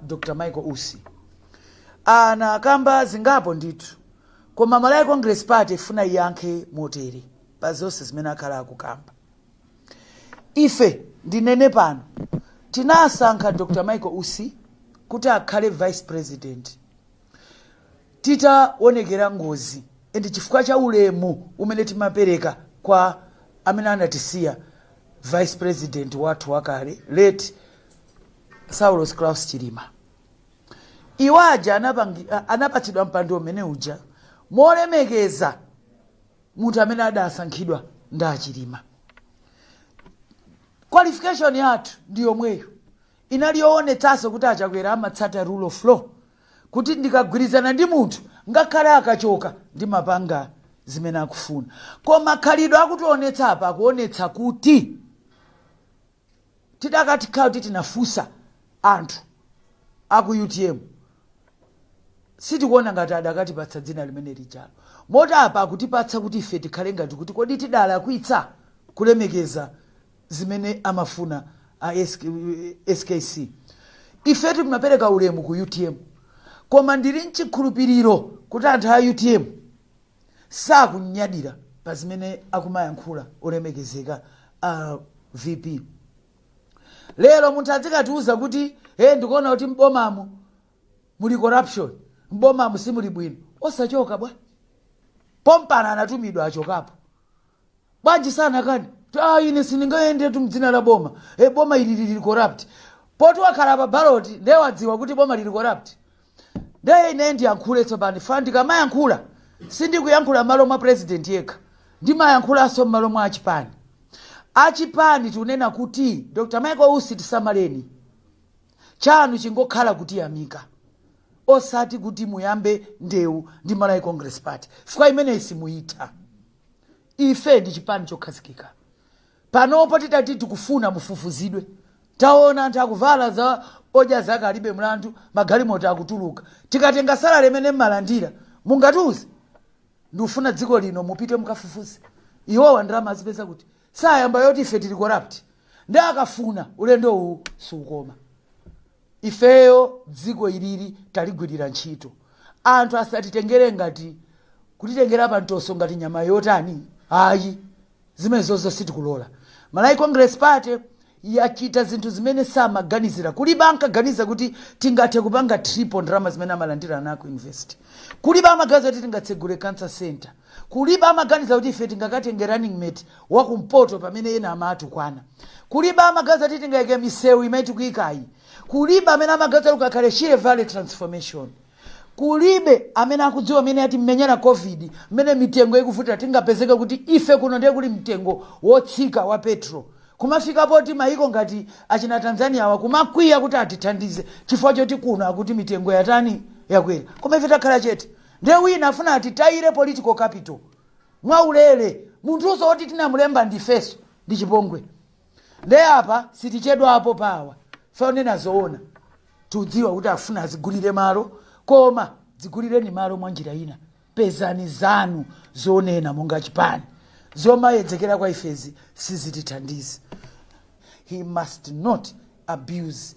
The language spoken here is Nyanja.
dr michael usi anakamba zingapo ndithu koma malawi congress party ifuna iyankhe motere pa zonse zimene akhala akukamba ife ndinene pano tinasankha dr michael usi kuti akhale vice president titaonekera ngozi ndi chifukwa cha ulemu umene timapereka kwa amene anatisiya vice president wathu wakale late Saulos Klaus Chilima. Iwo aja anapatsidwa mpando umene uja molemekeza munthu amene adasankhidwa ndi achilima qualification yathu ndi yomweyo inali yoonetsanso kuti achakwera amatsata rule of law kuti ndikagwirizana ndi munthu ngakhale akachoka ndimapanga zimene akufuna koma khalidwe akutionetsa apa akuonetsa kuti tidakakhala kuti tinafunsa anthu aku utm sitikuona ngati adakatipatsa dzina limene lijalo moti apa akutipatsa kuti ife tikhale ngati kuti kodi tidalakwitsa kulemekeza zimene amafuna a skc ife timapereka ulemu ku utm koma ndili mchikhulupiriro kuti anthu a utm sakunyadira pa zimene akumayankhula olemekezeka a vp lero munthu adzikatiuza kuti e ndikuona kuti m'bomamu muli corruption m'bomamu simuli bwino osachoka bwanji pompano anatumidwa achokapo bwanji sanakane kuti ah, ine sindingayendetu mdzina la boma e, boma ili lili corrupt poti wakhala pa baloti ndiye wadziwa kuti boma lili corrupt ndiye ine ndiyankhule tsopano chifukwa ndikamayankhula sindikuyankhula m'malo mwa president yekha ndimayankhulanso m'malo mwa achipani achipani tikunena kuti dr michael usi tisamaleni chanu chingokhala kutiyamika osati kuti muyambe ndewu ndi malawi congress party chifukwa imeneyi simuyitha ife ndi chipani chokhazikika panopo titati tikufuna mufufuzidwe taona anthu akuvala za odya zake alibe mlandu magalimoto akutuluka tikatenga salale imene mmalandira mungatiuze ndikufuna dziko lino mupite mukafufuze iwowa ndalama azipeza kuti asayambe zoti ife tili corrupt ndi akafuna ulendo uwu siukoma ifeyo dziko ilili taligwirira ntchito anthu asatitengere ngati kutitengera pantoso ngati nyama yotani ayi zimenezozo sitikulola malawi congress party yachita zinthu zimene samaganizira kulibe ankaganiza kuti tingathe kupanga triple ndalama zimene amalandira ana aku university kulibe amaganiza kuti tingatsegule cancer center kulibe amaganiza kuti ife tingakatenge running mate wakumpoto pamene ena amawatukwana kulibe amaganiza kuti tingayike misewu imene tikuyikayi kulibe amene amaganiza kuti kukakhale shire valley transformation Kulibe amene akudziwa mmene yatimenyera Covid, mmene mitengo ikuvutira. Tingapezeke kuti ife kuno ndiye kuli mtengo wotsika wa petrol. Kumafika poti mayiko ngati achina Tanzania-wa kumakwiya kuti atithandize chifukwa choti kuno akuti mitengo yatani? Yakwera. Koma ife takhala chete. Ndiye wina afuna atitayire political capital mwaulere. Munthunso woti tinamulemba ndifenso. Ndi chipongwe. nde apa sitichedwapo pa awa fe onena zoona tudziwa kuti afuna azigulire malo koma dzigulireni malo mwa njira ina pezani zanu zonena monga chipani zomayedzekera kwa ifezi sizitithandiza he must not abuse